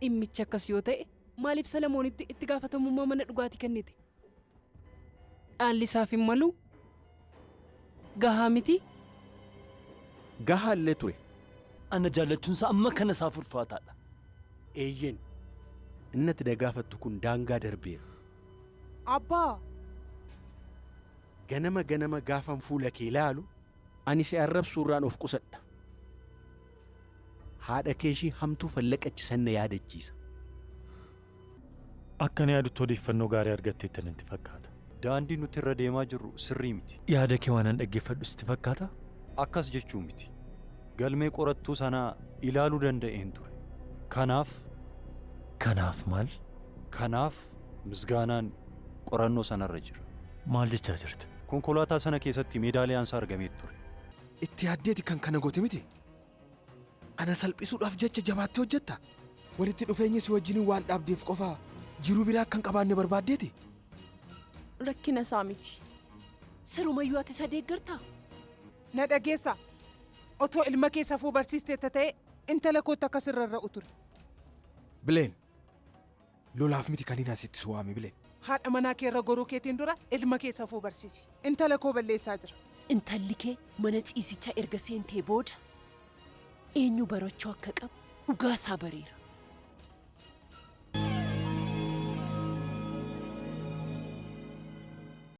Dhimmichi akkas yoo ta'e, maaliif Salamoonitti itti gaafatamummaa mana dhugaatii kennite? Dhaalli isaaf hin maluu? Gahaa mitii? Gahaa illee ture. Ana jaallachuun isaa amma kana isaaf ulfaataa dha. Eeyyeen, inni ati na gaafattu kun daangaa darbeera. Abbaa! Ganama ganama gaafan fuula kee ilaalu, Ani si arrabsuu irraan of qusadha. Haadha kee ishii hamtuu fallaqachi san na yaadachiisa. Akkan yaadutti odeeffannoo gaarii argatteetta natti fakkaata. Daandii nuti irra deemaa jirru sirrii miti. Yaada kee waanan dhaggeeffadhu sitti fakkaataa? Akkas jechuu miti. Galmee qorattuu sanaa ilaaluu danda'een ture. Kanaaf. Kanaaf maal? Kanaaf Misgaanaan qorannoo sanarra jira. Maal jechaa jirta? Konkolaataa sana keessatti meedaaliyaansaa argamee ture. Itti yaaddeeti kan kana goote miti? Ana salphisuudhaaf jecha jabaattee hojjetta? Walitti dhufeenya si wajjiniin waan dhaabdeef qofa jiruu biraa akka hin qabaanne barbaaddeeti? Rakkina isaa miti. Sirumayyuu ati isa deeggartaa? Na dhageessaa? Otoo ilma kee safuu barsiisteetta ta'ee intala kootti akka si rarra'u ture. Bileen, Lolaaf miti kaniin asitti si waame Bilen. Haadha manaa kee irra goruu keetiin dura ilma kee safuu barsiisi. Intala koo balleessaa jira. Intalli kee mana ciisichaa erga seentee booda eenyu barachuu akka qabu dhugaa isaa bareera.